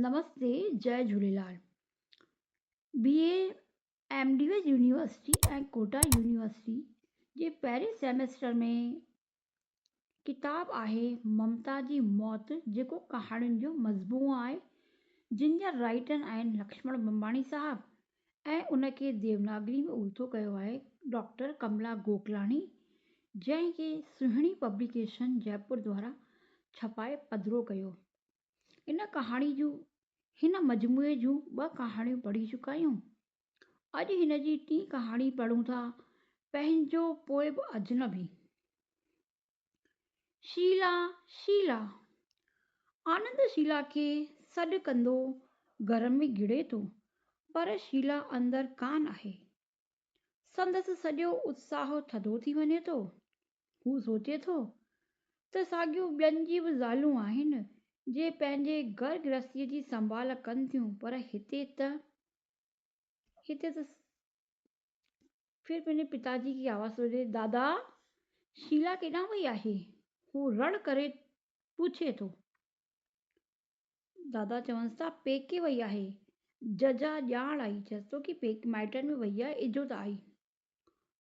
نمستي جئي Jhulelal B A M D S university ۽ Kota university جي پهرين سيمسٽر ۾ ڪتاب آهي ممتا جي موت جيڪو ڪهاڻين جو مجموعو آهي جن جا رائٽر آهن لڪشمڻ ٻنباڻي صاحب ۽ ان کي ديوناگري ۾ الٿو ڪيو آهي ڊاڪٽر ڪملا گوڪلاڻي جنهن کي سهڻي پبليڪيشن جئپور دوارا ڇپائي پڌرو ڪيو ان ڪهاڻي جون هن مجموعي جون ٻه ڪهاڻيون پڙهي چڪا آهيون اڄ هن جي ٽين ڪهاڻي پڙهون ٿا پنهنجو پوء به اجنبي شيلا شيلا آنند شيلا کي سڏ ڪندو گهر ۾ گهڙي ٿو پر شيلا اندر ڪانه آهي سندس سڄو اتساهه ٿڌو ٿي وڃي ٿو. هو سوچي ٿو ته ساڳيون ٻين جي به زالون آهن، جي پنهنجي گهر گرهستيء جي سنڀال ڪن ٿيون، پر هتي ته هتي ته ڦر پنهنجي پتا جي کي آواز ٿو ڏي، دادا! شيلا ڪيڏانهن وئي آهي؟ هو رڙ ڪري پڇي ٿو. دادا چونس ٿا پيڪي وئي آهي. ججا ڄاڻ آئي، چيس ٿو ڪي پيڪي مائٽن ۾ وئي آهي، اجهو ته آئي.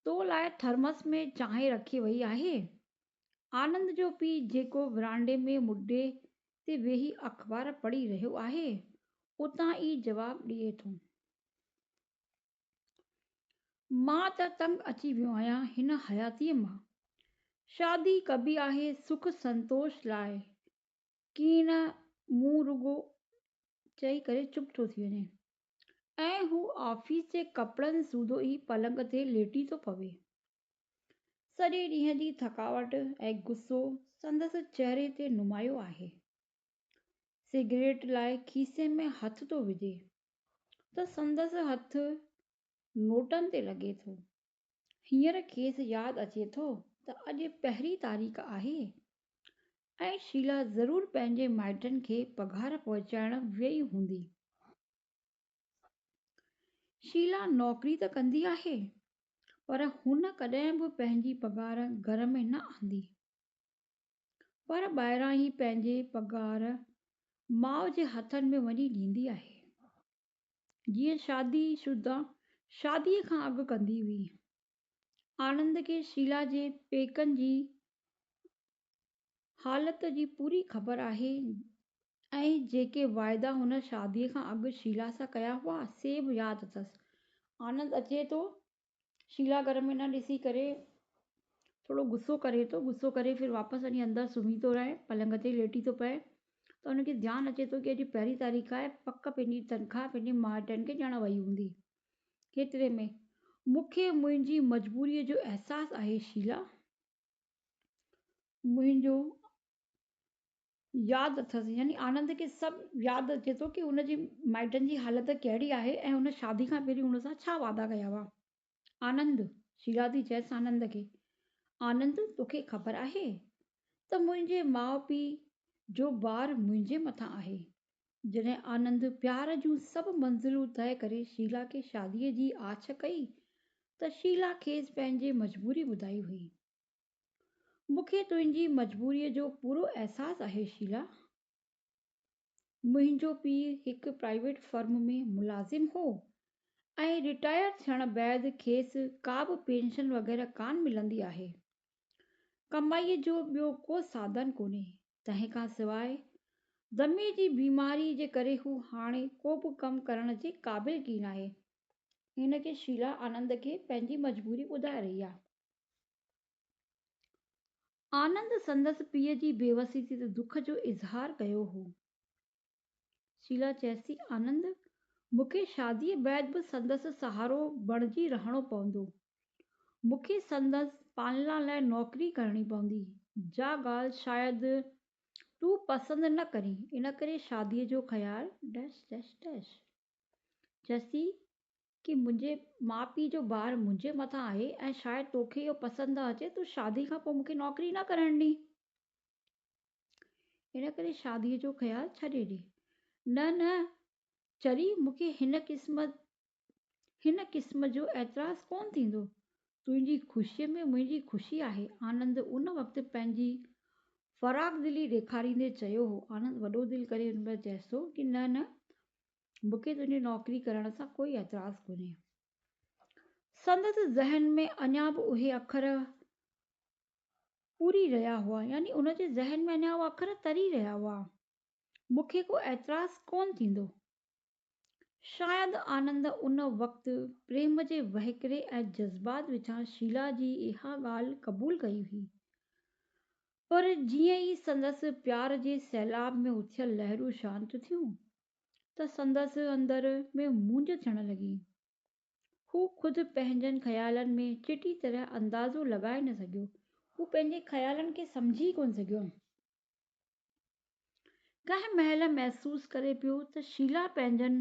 تو لاء ٿرمس ۾ چانهه رکي وئي آهي. آنند جو پيء جيڪو ورانڊي ۾ مڏي تي ويهي اخبار پڙهي رهيو آهي، اتان ئي جواب ڏئي ٿو. مان ته تنگ اچي ويو آهيان هن حياتيء مان. شادي ڪبي آهي سک سنتوش لاء، ڪيئي نه مون رڳو چئي ڪري چپ ٿو ٿي وڃي ۽ هو آفيس جي ڪپڙن سوڌو ئي پلنگ تي ليٽي ٿو پوي. سڄي ڏينهن جي ٿڪاوٽ ۽ غصو سندس چهري تي نمايو آهي. سگريٽ لاء کيسي ۾ هٿ ٿو وجهي ته سندس هٿ نوٽن تي لڳي ٿو هينئر کيس ياد اچي ٿو ته اڄ پهرين تاريخ آهي ۽ شيلا ضرور پنهنجي مائٽن کي پگهار پهچائڻ ويئي هوندي. شيلا نوڪري ته ڪندي آهي پر هن ڪڏهن به پنهنجي پگهار گهر ۾ نه آندي پر ٻاهران ئي پنهنجي پگهار ماء جي هٿن ۾ وڃي ڏيندي آهي. جيئن شادي شده شاديء کان اڳ ڪندي هئي. آنند کي شيلا جي پيڪن جي حالت جي پوري خبر آهي ۽ جيڪي واعدا هن شاديء کان اڳ شيلا سان ڪيا هئا، سي به ياد اٿس. آنند اچي ٿو شيلا گهر ۾ نه ڏسي ڪري ٿورو غصو ڪري ٿو غصو ڪري ڦر واپس وڃي اندر سمهي ٿو رهي پلنگ تي ليٽي ٿو پئي ته ان کي ڌيان اچي ٿو ڪي اڄ پهرين تاريخ آهي پڪ پنهنجي تنخواه پنهنجي مائٽن کي ڏيڻ وئي هوندي هيتري ۾ مون کي منهنجي مجبوري جو احساس آهي شيلا منهنجو ياد اٿس يعني آنند کي سڀ ياد اچي ٿو ڪي هن جي مائٽن جي حالت ڪهڙي آهي ۽ هن شادي کان پهرين هن سان ڇا وعدا ڪيا هئا. آنند، شيلا ٿي چئس آنند کي، آنند توکي خبر آهي ته منهنجي ماء پيء جو بار منهنجي مٿان آهي. جڏهن آنند پيار جون سڀ منزلون طئي ڪري شيلا کي شادي جي آڇ ڪئي ته شيلا کيس پنهنجي مجبوري ٻڌائي هئي. مون کي تنهنجي مجبوريء جو پورو احساس آهي شيلا. منهنجو پيء هڪ پرائيويٽ فرم ۾ ملازم هو ۽ رٽائر ٿيڻ بعد کيس ڪابه پينشن وغيره ڪانه ملندي آهي. ڪمائيء جو ٻيو ڪو ساڌن ڪونهي. تنهن کان سواء دمي جي بيماريء جي ڪري هو هاڻي ڪوبه ڪم ڪرڻ جي قابل ڪين آهي. هن کي شيلا آنند کي پنهنجي مجبوري ٻڌائي رهي آهي. آنند سندس پيء جي بيوسي تي ته دک جو اظهار ڪيو هو. شيلا چيس ٿي، آنند، مون کي شاديء بعد به سندس سهارو بڻجي رهڻو پوندو. مون کي سندس پالنا لاء نوڪري ڪرڻي پوندي، جا ڳالهه شايد تون پسند نه ڪرين، ان ڪري شاديء جو خيال. چيس ٿي، ڪي منهنجي ماء پيء جو بار منهنجي مٿان آهي ۽ شايد توکي اهو پسند نه اچي تون شادي کان پوء مونکي نوڪري نه ڪرڻ ڏي ان ڪري شادي جو خيال ڇڏي ڏي نه نه چري مونکي هن قسم هن قسم جو اعتراض ڪون ٿيندو تنهنجي خوشي ۾ منهنجي خوشي آهي آنند ان وقت پنهنجي فراخ دلي ڏيکاريندي چيو هو آنند وڏو دل ڪري ان ۾ چيس ٿو ڪي نه نه مون کي تنهنجي نوڪري ڪرڻ سان ڪوئي اعتراض ڪونهي. سندس ذهن ۾ اڃا به اهي اکر پوري رهيا هئا، يعني ان جي ذهن ۾ اڃا اهي اکر تري رهيا هئا. مون کي ڪو اعتراض ڪونه ٿيندو. شايد آنند ان وقت پريم جي وهڪري ۽ جذبات وچان شيلا جي اها ڳالهه قبول ڪئي هئي. پر جيئن ئي سندس پيار جي سيلاب ۾ اٿيل لهرون شانت ٿيون، ته سندس اندر ۾ مونجهه ٿيڻ لڳي. هو خود پنهنجن خيالن ۾ چٽي طرح اندازو لڳائي نه سگهيو. هو پنهنجي خيالن کي سمجهي ئي ڪونه سگهيو. ڪنهن مهل محسوس ڪري پيو ته شيلا پنهنجن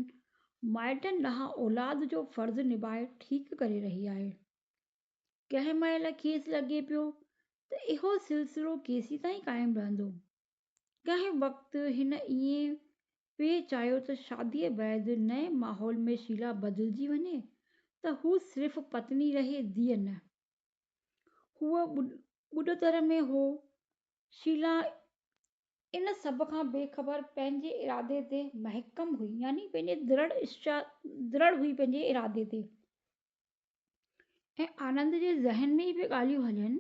مائٽن ڏانهن اولاد جو فرض نڀائي ٺيڪ ڪري رهي آهي. ڪنهن مهل کيس لڳي پيو ته اهو سلسلو ڪيسين تائين قائم رهندو. ڪنهن وقت هن ائين پئي چاهيو ته شاديء بعد نئين ماحول ۾ شيلا بدلجي وڃي ته هو صرف پتني رهي ڌيء نه. هو ٻڏتر ۾ هو. شيلا ان سڀ کان بي خبر پنهنجي ارادي تي محڪم هئي يعني پنهنجي درڙ هئي پنهنجي ارادي تي. ۽ آنند جي ذهن ۾ به ڳالهيون هلين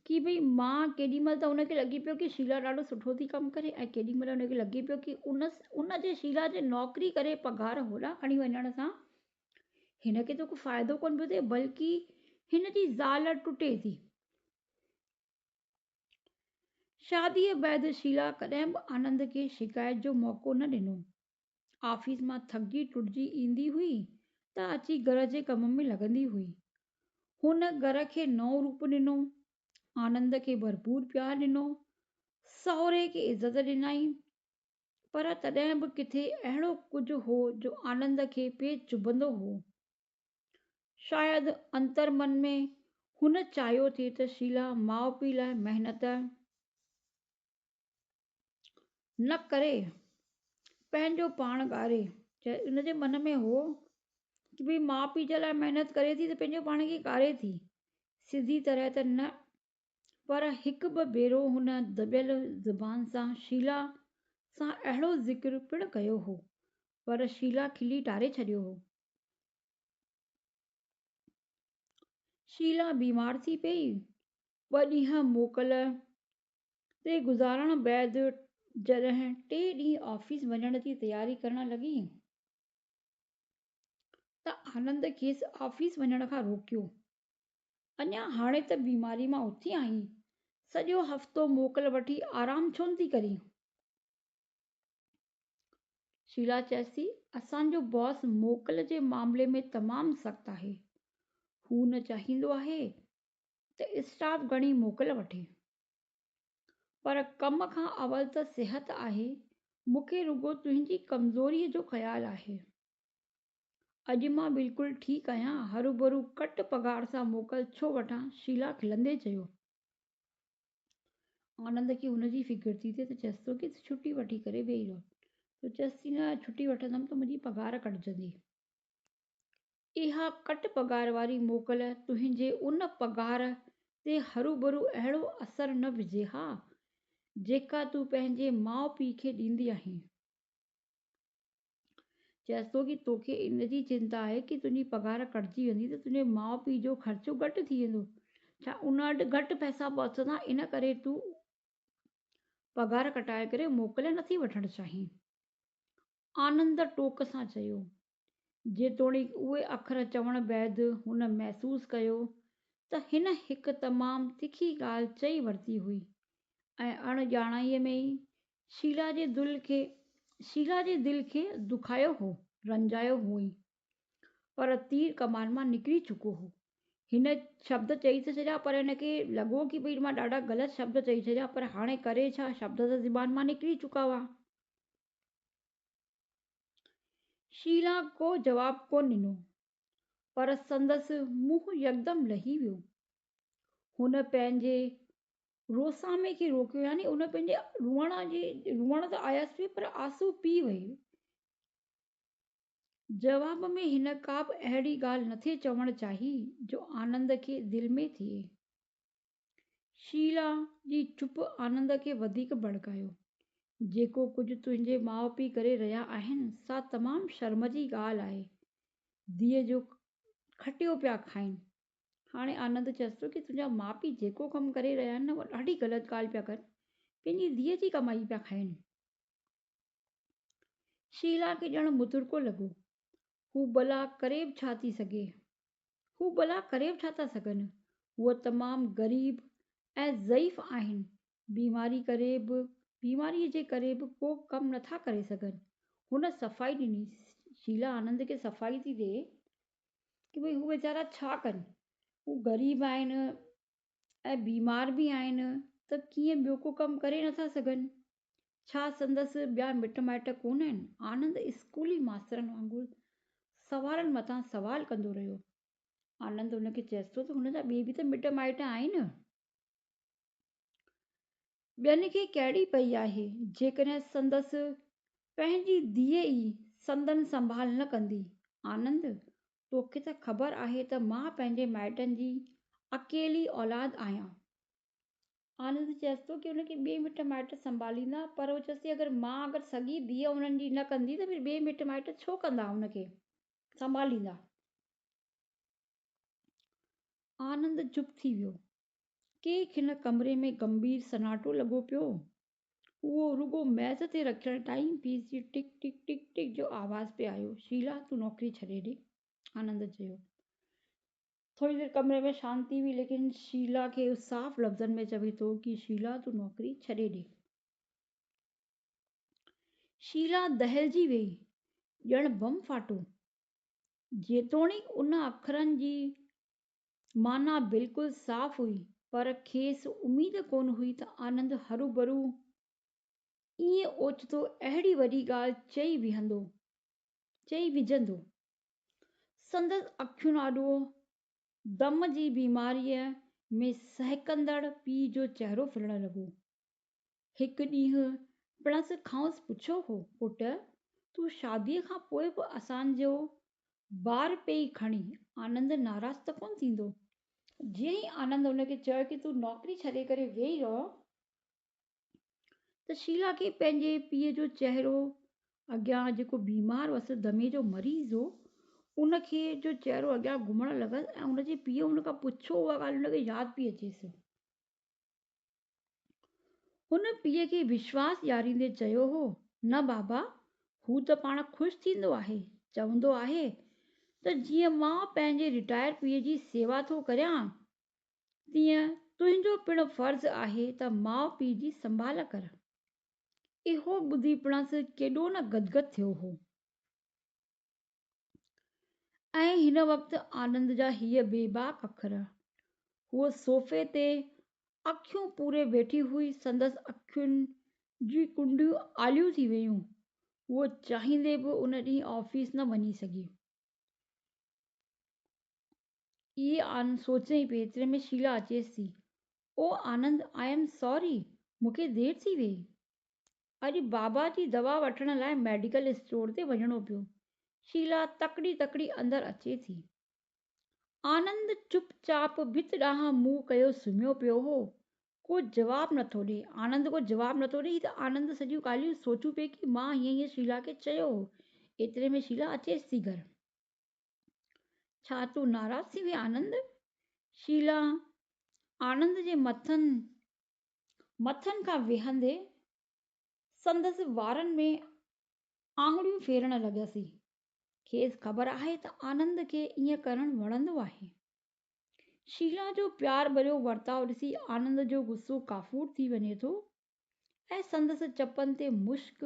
ڪي ڀئي مان ڪيڏي مهل ته هن کي لڳي پيو ڪي شيلا ڏاڍو سٺو ٿي ڪم ڪري ۽ ڪيڏي مهل هن کي لڳي پيو ڪي ان ان جي شيلا جي نوڪري ڪري پگهار هوڏا کڻي وڃڻ سان هن کي ته ڪو فائدو ڪونه پيو ٿئي بلڪي هن جي زال ٽٽي ٿي شاديء بعد شيلا ڪڏهن به آنند کي شڪايت جو موقعو نه ڏنو آفيس مان ٿڪجي ٽٽجي ايندي هئي ته اچي گهر جي ڪم ۾ لڳندي هئي. هن گهر کي نئون روپ ڏنو، آنند کي ڀرپور پيار ڏنو، سهري کي عزت ڏنائين پر تڏهن به ڪٿي اهڙو ڪجهه هو جو آنند کي پئي چڀندو هو. شايد انتر من ۾ هن چاهيو ٿي ته شيلا ماء پيء لاء محنت، نه ڪري پنهنجو پاڻ ڳاري چاهي ان جي من ۾ هو ته ڀي ماء پيء جي لاء محنت ڪري ٿي ته پنهنجو پاڻ کي ڪاري ٿي سڌي طرح ته نه پر هڪ ٻه ڀيرو هن دٻيل زبان سان شيلا سان اهڙو ذڪر پڻ ڪيو هو پر شيلا کلي ٽاري ڇڏيو هو شيلا بيمار ٿي پئي ٻه ڏينهن موڪل تي گذارڻ بعد جڏهن ٽي ڏينهن آفيس وڃڻ جي تياري ڪرڻ لڳي ته آنند کيس آفيس وڃڻ کان روڪيو. اڃا هاڻي ته بيماري مان اٿي آهين، سڄو هفتو موڪل وٺي آرام ڇو نه ٿي ڪرين؟ شيلا چيس ٿي، اسان جو باس موڪل جي معاملي ۾ تمام سخت آهي. هو نه چاهيندو آهي ته اسٽاف گهڻي موڪل وٺي پر ڪم کان اول ته صحت آهي مون کي رڳو تنهنجي ڪمزوريء جو خيال آهي اڄ مان بلڪل ٺيڪ آهيان هروڀرو گهٽ پگهار سان موڪل ڇو وٺان شيلا کلندي چيو آنند کي ان جي فڪر ٿي ته چيس ٿو ته ڇٽي وٺي ڪري ويهي رهو تون چيس ٿي نه ڇٽي وٺندم ته منهنجي پگهار ڪٽجندي اها ڪٽ پگهار واري موڪل تنهنجي ان پگهار تي هروڀرو اهڙو اثر نه وجهي ها، جيڪا تون پنهنجي ماء پيء کي ڏيندي آهين. چيس ٿو ته توکي ان جي چنتا آهي ته تنهنجي پگهار ڪٽجي ويندي ته تنهنجي ماء پيء جو خرچو گهٽ ٿي ويندو. ڇا ان وٽ گهٽ پئسا پهچندا، ان ڪري تون پگهار ڪٽائي ڪري موڪل نٿي وٺڻ چاهين؟ آنند ٽوڪ سان چيو. جيتوڻيڪ اهي اکر چوڻ بعد هن محسوس ڪيو ته هن هڪ تمام تکي ڳالهه چئي ورتي هئي ۽ اڻ ڄاڻائيء ۾ ئي شيلا جي دل کي شيلا جي دل کي دکايو هو، رنجايو هئائين. پر تير ڪمان مان نڪري چڪو هو. هن شبد چئي ته ڇڏيا پر هن کي لڳو ڪي ڀئي مان ڏاڍا غلط شبد چئي ڇڏيا پر هاڻي ڪري ڇا شبد ته زبان مان نڪري چڪا هئا. شيلا ڪو جواب ڪونه ڏنو، پر سندس منهن يڪدم لهي ويو. هن پنهنجي روسامي کي روڪيو، يعني هن پنهنجي روئڻ جي روئڻ ته آيس پئي پر آنسو پي وئي. جواب ۾ هن ڪابه اهڙي ڳالهه نٿي چوڻ چاهي، جو آنند کي دل ۾ ٿئي. شيلا جي چپ آنند کي وڌيڪ ڀڙڪايو. جيڪو ڪجهه تنهنجي ماء پيء ڪري رهيا آهن، سا تمام شرم جي ڳالهه آهي. ڌيء جو کٽيو پيا کائين. هاڻي آنند چيس ٿو ته تنهنجا ماء پيء جيڪو ڪم ڪري رهيا آهن نه اها ڏاڍي غلط ڳالهه پيا ڪن. پنهنجي ڌيء جي ڪمائي پيا کائين. شيلا کي ڄڻ مترڪو لڳو. هو ڀلا ڪري به ڇا ٿي سگهي؟ هو ڀلا ڪري به ڇا ٿا سگهن؟ هو تمام غريب ۽ ضعيف آهن. بيماريء ڪري به بيماريء جي ڪري به ڪو ڪم نه ٿا ڪري سگهن. هن صفائي ڏني. شيلا آنند کي صفائي ٿي ڏي ته ڀئي هو ويچارا ڇا ڪن. هو غريب آهن. ۽ بيمار به آهن ته ڪيئن ٻيو ڪو ڪم ڪري نٿا سگهن؟ ڇا سندس ٻيا مٽ مائٽ ڪونه آهن؟ آنند اسڪولي ماسترن وانگر سوالن مٿان سوال ڪندو رهيو. آنند هن کي چيس ٿو ته هن جا ٻئي به ته مٽ مائٽ آهن. ٻين کي ڪهڙي پئي آهي جيڪڏهن سندس پنهنجي ڌيء ئي سندن سنڀال نه ڪندي؟ آنند توکي ته خبر آهي ته مان پنهنجي مائٽن جي اڪيلي اولاد آهيان. آنند چيس ٿو ڪي ان کي ٻئي مٽ مائٽ سنڀاليندا پر هو چيس ٿي اگر مان اگر سڳي ڌيء انهن جي نه ڪندي ته ڀير ٻئي مٽ مائٽ ڇو ڪندا ان کي سنڀاليندا. آنند چپ ٿي ويو. ڪي کن ڪمري ۾ گنڀير سناٽو لڳو پيو. اهو رڳو ميز تي رکيل ٽائيم پيس جي ٽڪ ٽڪ ٽڪ ٽڪ جو آواز پئي آيو. شيلا تون نوڪري ڇڏي ڏي. آنند چيو. ٿوري دير ڪمري ۾ شانتي هئي ليڪن شيلا کي هو صاف لفظن ۾ چوي ٿو ڪي شيلا تون نوڪري ڇڏي ڏي. شيلا دهلجي ويئي ڄڻ بم ڦاٽو. جيتوڻيڪ ان اکرن جي معنيٰ بلڪل صاف هئي، پر کيس اميد ڪونه هئي ته آنند هروڀرو ائين اوچتو اهڙي وڏي ڳالهه چئي ويهندو. چئي وجهندو. سندس اکين آڏو دم جي بيماريء ۾ سهڪندڙ پيء جو چهرو ڦرڻ لڳو. هڪ ڏينهن پڻس کانئس پڇيو هو، پٽ! تون شاديء کان پوء به اسان جو بار پئي کڻين، آنند ناراض ته ڪونه ٿيندو؟ جيئن ئي آنند هن کي چيو ته تون نوڪري ڇڏي ڪري ويهي رهه ته شيلا کي پنهنجي پيء جو چهرو اڳيان جيڪو بيمار هوس، دمي جو مريض هو، ان کي جو چهرو اڳيان گهمڻ لڳس ۽ هن جي پيء هن کان پڇيو اها ڳالهه هن کي ياد پئي اچيس. هن پيء کي وشواس ڏياريندي چيو هو، نه بابا، هو ته پاڻ خوش ٿيندو آهي، چوندو آهي ته جيئن مان پنهنجي رٽائر پيء جي سيوا ٿو ڪريان، تيئن تنهنجو پڻ فرض آهي ته ماء پيء جي سنڀال ڪر. اهو ٻڌي پڻس ڪيڏو نه گدگد ٿيو هو. ۽ هن وقت آنند جا هيء بيباڪ اکر. هوء صوفي تي اکيون پوري ويٺي هئي، سندس اکين جي ڪنڊيون آليون ٿي ويون، هوء چاهيندي به ان ڏينهن آفيس نه وڃي سگهي. اهي آنند سوچي پئي ايتري ۾ شيلا اچيس ٿي. او آنند! آء ايم ساري، مون کي دير ٿي ويئي. اڄ بابا جي دوا وٺڻ لاء ميڊيڪل اسٽور تي وڃڻو پيو. شيلا تڪڙي تڪڙي اندر اچي ٿي. آنند چپ چاپ ڀت ڏانهن منهن ڪيو سمهيو پيو هو. ڪو جواب نه ٿو ڏي. آنند ڪو جواب نه ٿو ڏي. هي ته آنند سڄيون ڳالهيون سوچيون پئي ڪي مان هيئن هيئن شيلا کي چيو هو. ايتري ۾ شيلا اچيس ٿي گهر. ڇا تون ناراض ٿي وئين آنند؟ شيلا آنند جي مٿن مٿن کان ويهندي سندس وارن ۾ آڱريون ڦيرڻ لڳس. کيس خبر آهي ته آنند کي ائين ڪرڻ وڻندو آهي. شيلا جو پيار ڀريو ورتاء ڏسي آنند جو غصو ڪافور ٿي وڃي ٿو ۽ سندس چپن تي مشڪ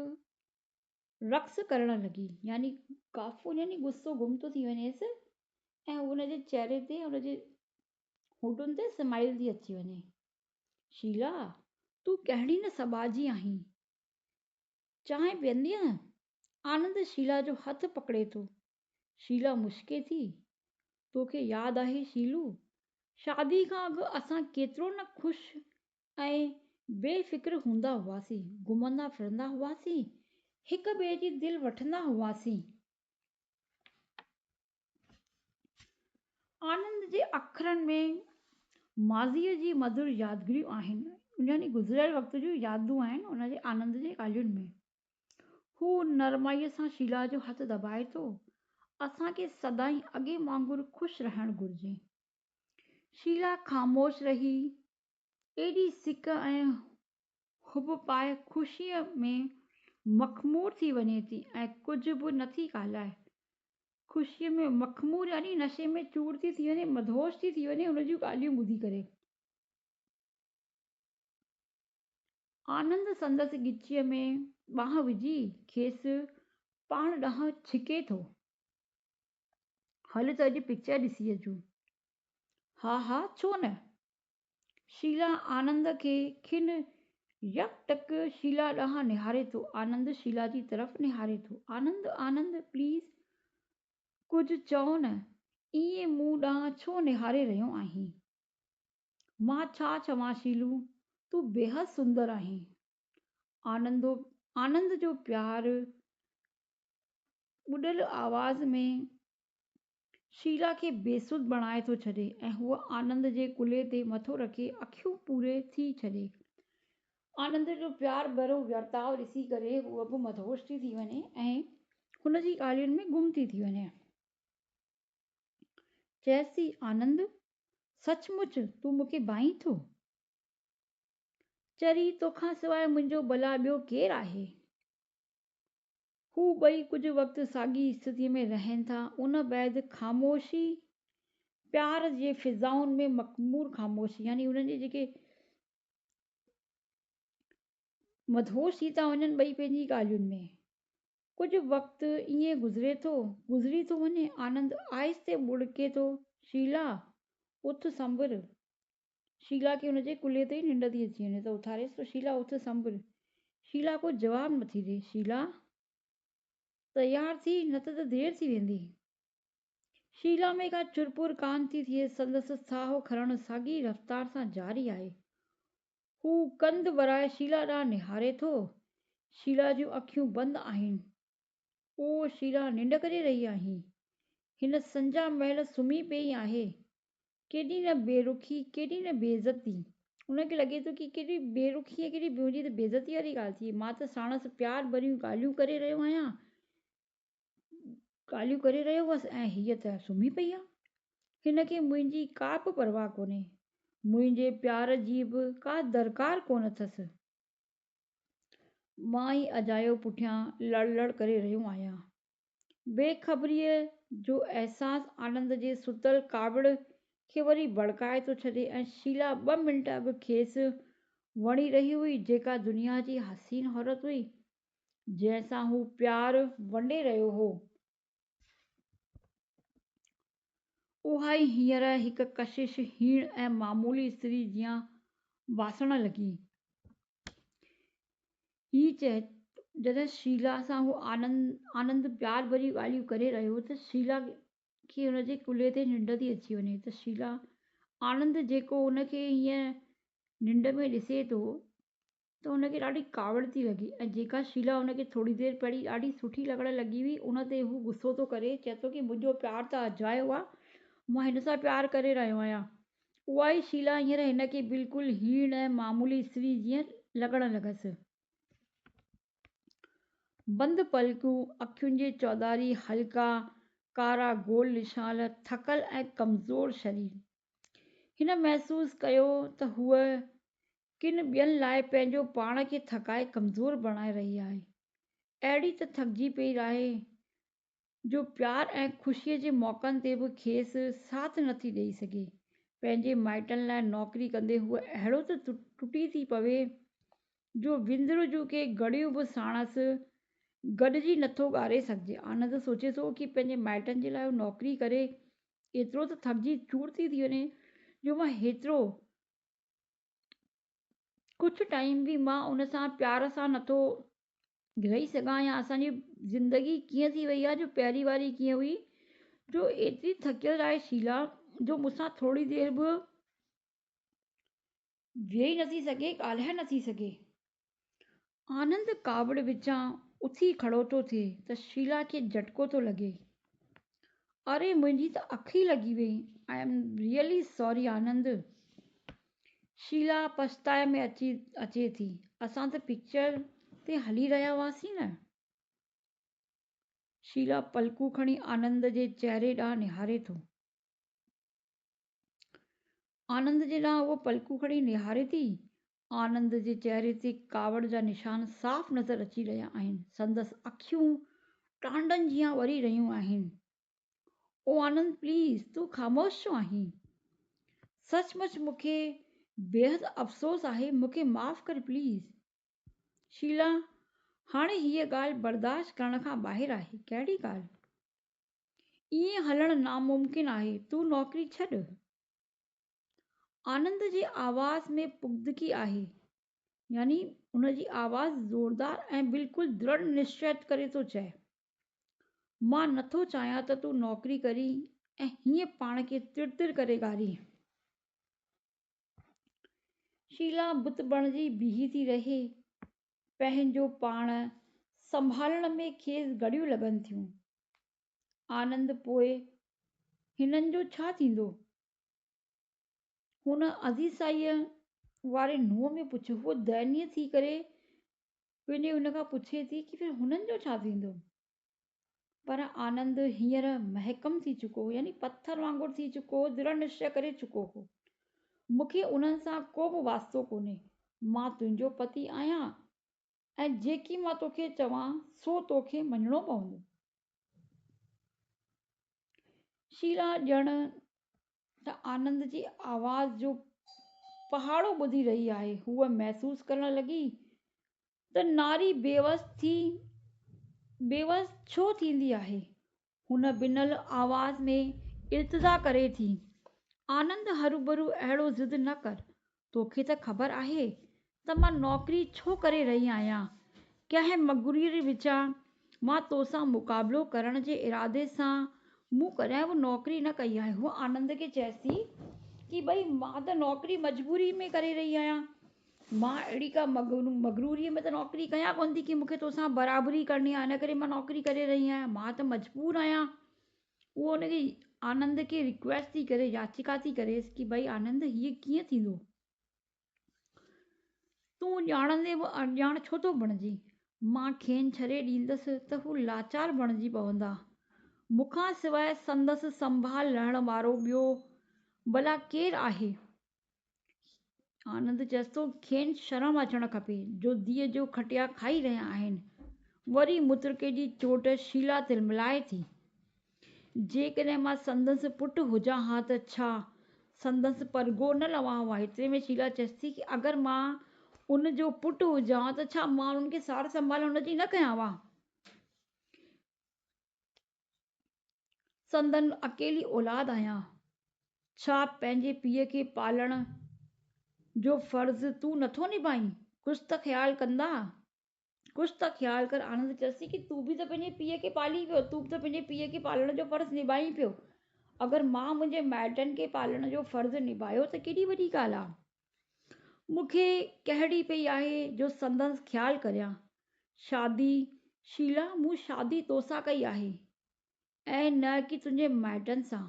رقص ڪرڻ لڳي يعني ڪافور يعني غصو گم ٿو ٿي وڃيس ۽ ان جي چهري تي ان جي هوٽن تي سمائيل ٿي اچي وڃي شيلا، تون ڪهڙي نه سٻاء جي آهين. چانهه پيئندينء؟ آنند شيلا جو هٿ پڪڙي ٿو. شيلا مسڪي ٿي. توکي ياد آهي شيلو، شادي کان اڳ اسان ڪيترو نه خوش ۽ بي فڪر هوندا هئاسين، گهمندا ڦرندا هئاسين، هڪ ٻئي جي دل وٺندا هئاسين. آنند جي اکرن ۾ ماضيء جي مڌر يادگريون آهن، يعني گذريل وقت جون يادون آهن ان جي آنند جي ڳالهين ۾. هو نرمائيء سان شيلا جو هٿ دٻائي ٿو، اسان کي سدائين اڳي وانگر خوش رهڻ گهرجي. شيلا خاموش رهي ايڏي سڪ ۽ حب پائي خوشيء ۾ مخمور ٿي وڃي ٿي ۽ ڪجهه به نه ٿي ڳالهائي. خوشيء ۾ مخمور يعني نشي ۾ چور ٿي ٿي وڃي، مدهوش ٿي ٿي وڃي ان جون ڳالهيون ٻڌي ڪري. آنند سندس ڳچيء ۾ ٻانهن وجهي کيس پاڻ ڏانهن ڇڪي ٿو. هل ته اڄ پڪچر ڏسي اچون. ها ها ڇو نه. شيلا آنند کي کن يڪ ٽڪ شيلا ڏانهن نهاري ٿو. آنند شيلا جي طرف نهاري ٿو. آنند آنند پليز ڪجهه چئو نه ائين مون ڏانهن ڇو نهاري رهيو آهين. مان ڇا چوان شيلو تون بيحد سندر آهين. آنندو آنند جو پيار ٻڏل آواز ۾ شيلا کي بيسڌ بڻائي ٿو ڇڏي ۽ هوء آنند جي ڪلهي تي مٿو رکي اکيون پوري ٿي ڇڏي. آنند جو پيار ڀريو ورتاء ڏسي ڪري هوء به مدهوش ٿي ٿي وڃي ۽ هن جي ڳالهين ۾ گم ٿي ٿي وڃي. چيس ٿي آنند! سچ مچ تون مون کي ڀائين ٿو؟ چري، توکان سواء منهنجو ڀلا ٻيو ڪير آهي؟ هو ٻئي ڪجهه وقت ساڳي استٿيء ۾ رهن ٿا. ان بعد خاموشي پيار جي فضائن ۾ مخمور خاموشي يعني انهن جي جيڪي مدهوش ٿي ٿا وڃن ٻئي پنهنجي ڳالهين ۾. ڪجهه وقت ائين گذري ٿو، گذري ٿو وڃي. آنند آهستي ٻڙڪي ٿو، شيلا! اٿ سنڀر. شيلا کي ان جي ڪلهي تي ئي ننڊ ٿي اچي وڃي ته اٿاريس ته شيلا اٿ سنڀل. شيلا ڪو جواب نٿي ڏئي. شيلا! تيار ٿي نه ته ته دير ٿي ويندي. شيلا ۾ ڪا چرپور ڪانه ٿي ٿئي. سندس ساهو کڻڻ ساڳي رفتار سان جاري آهي. هو ڪنڌ ورائي شيلا ڏانهن نهاري ٿو. شيلا جون اکيون بند آهن. او شيلا ننڊ ڪري رهي آهين. هن سنجا مهل سمهي پئي آهي. ڪيڏي نه بي رخي ڪيڏي نه بي عزتي ان کي لڳي ٿو ڪي ڪيڏي بي رخي ۽ ڪيڏي منهنجي ته بي عزتي واري ڳالهه ٿي مان ته ساڻس پيار ڀريون ڳالهيون ڪري رهيو آهيان ڳالهيون ڪري رهيو هوس ۽ هيء ته سمهي پئي آهي هن کي منهنجي ڪا به پرواهه ڪونهي منهنجي پيار جي به ڪا درڪار ڪونه اٿس مان ئي اجايو پٺيان لڙ لڙ ڪري رهيو آهيان بي خبريء جو احساس آنند جي ستل ڪاوڙ کي وري ڀڙڪائي ٿو ڇڏي ۽ شيلا ٻه منٽ اڳ کيس وڻي رهي هئي، جيڪا دنيا جي حسين عورت هئي، جنهن سان هو پيار ونڊي رهيو هو، اها ئي هينئر هڪ ڪشش هيڻ ۽ معمولي استري جيان واسڻ لڳي. هي چيو جڏهن شيلا سان هو آنند پيار ڀريون ڳالهيون ڪري رهيو هو ته شيلا کي هن جي ڪلهي تي ننڊ ٿي اچي وڃي ته شيلا آنند جيڪو هن کي هيئن ننڊ ۾ ڏسي ٿو ته هن کي ڏاڍي ڪاوڙ ٿي لڳي ۽ جيڪا شيلا هن کي ٿوري دير پهرين ڏاڍي سٺي لڳڻ لڳي هئي ان تي هو غصو ٿو ڪري چئي ٿو ته منهنجو پيار ته اجايو آهي مان هن سان پيار ڪري رهيو آهيان اها ئي شيلا هينئر هن کي بلڪل هيڻ ۽ معمولي استري جيئن لڳڻ لڳس. بند پلڪون، اکين جي چوڌاري هلڪا ڪارا گول نشان، ٿڪل ۽ ڪمزور شرير. هن محسوس ڪيو ته هوء ڪن ٻين لاء پنهنجو پاڻ کي ٿڪائي ڪمزور بڻائي رهي آهي. اهڙي ته ٿڪجي پئي راهي، جو پيار ۽ خوشيء جي موقعن تي به کيس ساٿ نه ٿي ڏئي سگهي. پنهنجي مائٽن لاء نوڪري ڪندي هوء اهڙو ته ٽٽي ٿي پوي جو وندر جون ڪي گهڙيون به ساڻس گڏجي نه ٿو ڳاري سگهجي. آنند سوچي ٿو ڪي پنهنجي مائٽن جي لاء هو نوڪري ڪري ايترو ته ٿڪجي چور ٿي ٿي وڃي جو مان هيترو ڪجهه ٽائيم به مان ان سان پيار سان نٿو رهي سگهان يا اسان جي زندگي ڪيئن ٿي وئي آهي جو پهرين واري ڪيئن هئي جو ايتري ٿڪيل آهي شيلا جو مون سان ٿوري دير به ويهي نٿي سگهي ڳالهائي نٿي سگهي آنند ڪاوڙ وچان اٿي کڙو ٿو ٿئي ته شيلا کي جهٽڪو ٿو لڳي، اري منهنجي ته اک ئي لڳي وئي، I am really sorry Anand. Sheela پڇتاء ۾ اچي اچي ٿي، اسان ته پڪچر تي هلي رهيا هئاسين نه. شيلا پلڪون کڻي آنند جي چهري ڏانهن نهاري ٿو. آنند جي ڏانهن هوء پلڪون کڻي نهاري ٿي. آنند جي چهري تي ڪاوڙ جا نشان صاف نظر اچي رهيا آهن. سندس اکيون ٽانڊن جيان وري رهيون آهن. او آنند پليز تون خاموش ڇو آهين؟ سچ مچ مون کي بيحد افسوس آهي مون کي معاف ڪر پليز. شيلا هاڻي هيء ڳالهه برداشت ڪرڻ کان ٻاهر آهي. ڪهڙي ڳالهه؟ ائين هلڻ ناممڪن آهي. تون نوڪري ڇڏ. آنند جي آواز ۾ پختگي آهي. يعني ان جي آواز زوردار ۽ بلڪل دڙ نشچت ڪري ٿو چئي. مان نه ٿو چاهيان ته تون نوڪري ڪرين ۽ هيئن پاڻ کي تر تر ڪري گارين. شيلا بت بڻجي بيهي ٿي رهي. پنهنجو پاڻ سنڀالڻ ۾ کيس گهڙيون لڳن ٿيون. آنند پوء هنن جو ڇا ٿيندو؟ هن عزيسائيء واري نونهن ۾ پڇيو. هوء دينيء ٿي ڪري وڃي هن کان پڇي ٿي ته پوء هنن جو ڇا ٿيندو؟ پر آنند هينئر محڪم ٿي چڪو هو، يعني پٿر وانگر ٿي چڪو هو، دڙ نشي ڪري چڪو هو. مون کي انهن سان ڪو به واسطو ڪونهي. مان تنهنجو پتي آهيان ۽ جيڪي مان توکي چوان سو توکي مڃڻو پوندو. شيلا ڄڻ ته آنند جي آواز جو پهاڙو ٻڌي رهي آهي. هوء محسوس ڪرڻ لڳي ته ناري بيوس ٿي بيوس ڇو ٿيندي آهي؟ هن بنل آواز ۾ التجا ڪري ٿي. آنند هروڀرو اهڙو ضد نه ڪر. توکي ته خبر آهي ته مان نوڪري ڇو ڪري رهي آهيان. ڪنهن مغروري وچان مان توسان مقابلو ڪرڻ جي ارادي سان مون ڪڏهن به نوڪري نه ڪئي آهي. هوء آنند کي چيس ٿي ته ڀئي مان ته نوڪري مجبوري ۾ ڪري رهي آهيان. مان اهڙي ڪا مغروريء ۾ ته نوڪري ڪيان ڪونه ٿي ڪي مون کي تو سان برابري ڪرڻي آهي ان ڪري مان نوڪري ڪري رهي آهيان مان ته مجبور آهيان. هوء ان کي آنند کي ريڪويسٽ ٿي ڪري ياچڪا ٿي ڪريس ڪي ڀائي آنند هيء ڪيئن ٿيندو تون ڄاڻندي به اڻڄاڻ ڇو ٿو بڻجين مان کين ڇڏي ڏيندس ته هو لاچار بڻجي پوندا مون کان سواء سندس سنڀال لهڻ وارو ٻيو ڀلا ڪير آهي آنند چيس ٿو کين شرم اچڻ کپي جو ڌيء جو کٽيا کائي رهيا آهن. وري مترڪي جي چوٽ شيلا تلملائي ٿي. جيڪڏهن مان سندس پٽ هجان ها ته ڇا سندس پرگهو نه لوان ها. ايتري ۾ شيلا چيس ٿي اگر مان ان جو پٽ هجان ها ته ڇا مان انهن کي سار سنڀال هن جي نه ڪيان ها. سندن اڪيلي اولاد آهيان، ڇا پنهنجي پيء کي پالڻ جو فرض تون نٿو نڀائين؟ ڪجهه ته خيال ڪندا، ڪجهه ته خيال ڪر. آنند چيس ٿي، تون به ته پنهنجي پيء کي پالين پيو، تون به ته پنهنجي پيء کي پالڻ جو فرض نڀائين پيو. اگر مان منهنجي مائٽن کي پالڻ جو فرض نڀايو ته ڪيڏي وڏي ڳالهه آهي. مون کي ڪهڙي پئي آهي جو سندس خيال ڪريان. شادي، شيلا مون شادي توسان ڪئي آهي ۽ نه ڪي تنهنجي مائٽن سان.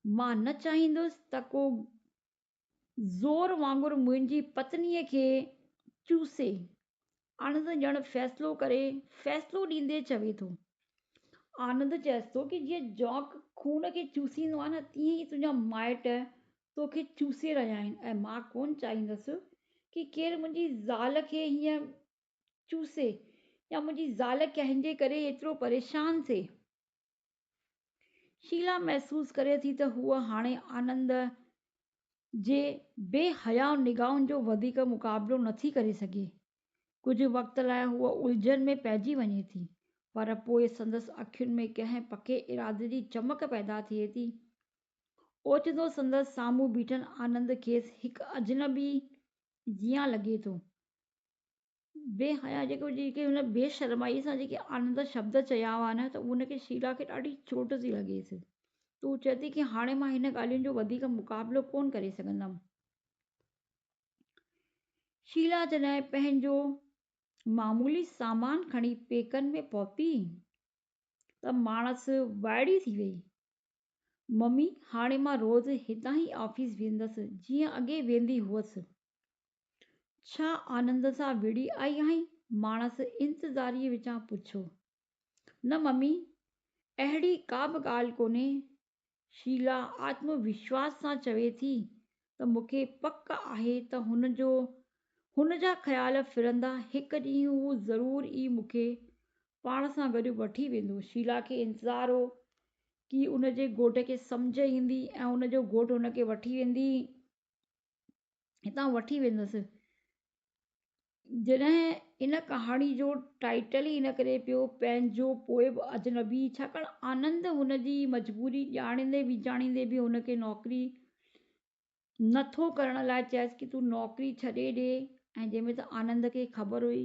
مان نه چاهيندس ته ڪو زور وانگر منهنجي پتنيء کي چوسي. آنند ڄڻ فيصلو ڪري فيصلو ڏيندي چوي ٿو. آنند چئيس ٿو ڪي جيئن جوڪ خون کي چوسيندو آهي نه تيئن ئي تنهنجا مائٽ تو کي چوسي رهيا آهن ۽ مان ڪونه چاهيندس ڪي ڪير منهنجي زال کي هيئن چوسي يا منهنجي زال ڪنهن جي ڪري ايترو پريشان ٿئي. شيلا محسوس ڪري ٿي ته هوء هاڻي آنند جي بي حياء نگاهن جو وڌيڪ مقابلو نٿي ڪري سگهي. ڪجهه وقت لاء هوء الجهن ۾ پئجي وڃي ٿي پر پوء سندس اکين ۾ ڪنهن پڪي ارادي جي چمڪ پيدا ٿئي ٿي اوچتو سندس سامهون بيٺل آنند کيس هڪ اجنبي جيان لڳي ٿو. بي حياء جيڪي هن بي شرمائيء سان جيڪي آنند شبد چيا هئا نه ته ان کي شيلا کي ڏاڍي چوٽ ٿي لڳيس. هو چئي ٿي ڪي هاڻي مان هن ڳالهين جو وڌيڪ مقابلو ڪونه ڪري سگهندم. شيلا جڏهن پنهنجو معمولي سامان کڻي پيڪن ۾ پهتي ته ماڻس وائڙي ٿي وئي. ممي، هاڻي مان روز هتان ئي آفيس ويندس، جيئن اڳي ويندي هئس. ڇا آنند سان وڙهي آئي آهين؟ ماڻس انتظاريء وچان پڇيو. نه ممي، اهڙي ڪا به ڳالهه ڪونهي. شيلا آتم وشواس سان چوي ٿي، ته مون کي پڪ آهي ته هن جو هن جا خيال ڦرندا هڪ ڏينهن هو ضرور ئي مون کي پاڻ سان گڏ وٺي ويندو. شيلا کي انتظار هو ڪي ان جي گهوٽ کي سمجهه ايندي ۽ ان جو گهوٽ هن کي وٺي ويندي هتان وٺي ويندس. جڏهن ان ڪهاڻي جو ٽائيٽل ئي ان ڪري پيو پنهنجو پوء به اجنبي ڇاڪاڻ آنند هن جي مجبوري ڄاڻيندي ويڄاڻيندي به هن کي نوڪري نه ٿو ڪرڻ لاء چيس ڪي تون نوڪري ڇڏي ڏي ۽ جنهن ۾ ته آنند کي خبر هئي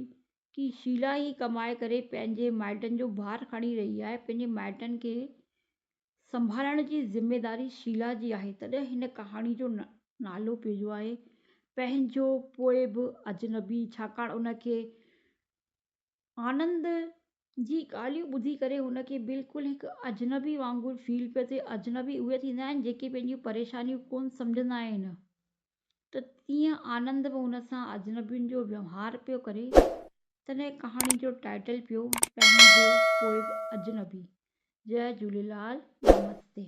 ڪي شيلا ئي ڪمائي ڪري پنهنجي مائٽن جو بار کڻي رهي آهي پنهنجي مائٽن کي سنڀالڻ جي ذميواري شيلا جي آهي تڏهن هن ڪهاڻي جو نالو پيو آهي پنهنجو پوء به اجنبي ڇاڪاڻ ان کي آنند جي ڳالهيون ٻڌي ڪري هن کي بلڪل هڪ اجنبي وانگر فيل پيو ٿئي اجنبي اهي ٿيندا آهن جيڪي پنهنجون پريشانيون ڪونه سمجهندا آهن ته تيئن آنند به هن سان اجنبين جو ويوهار پيو ڪري. تڏهن ڪهاڻي جو ٽائيٽل پيو پنهنجو پوء به اجنبي. جئه جهوليلال نمستي.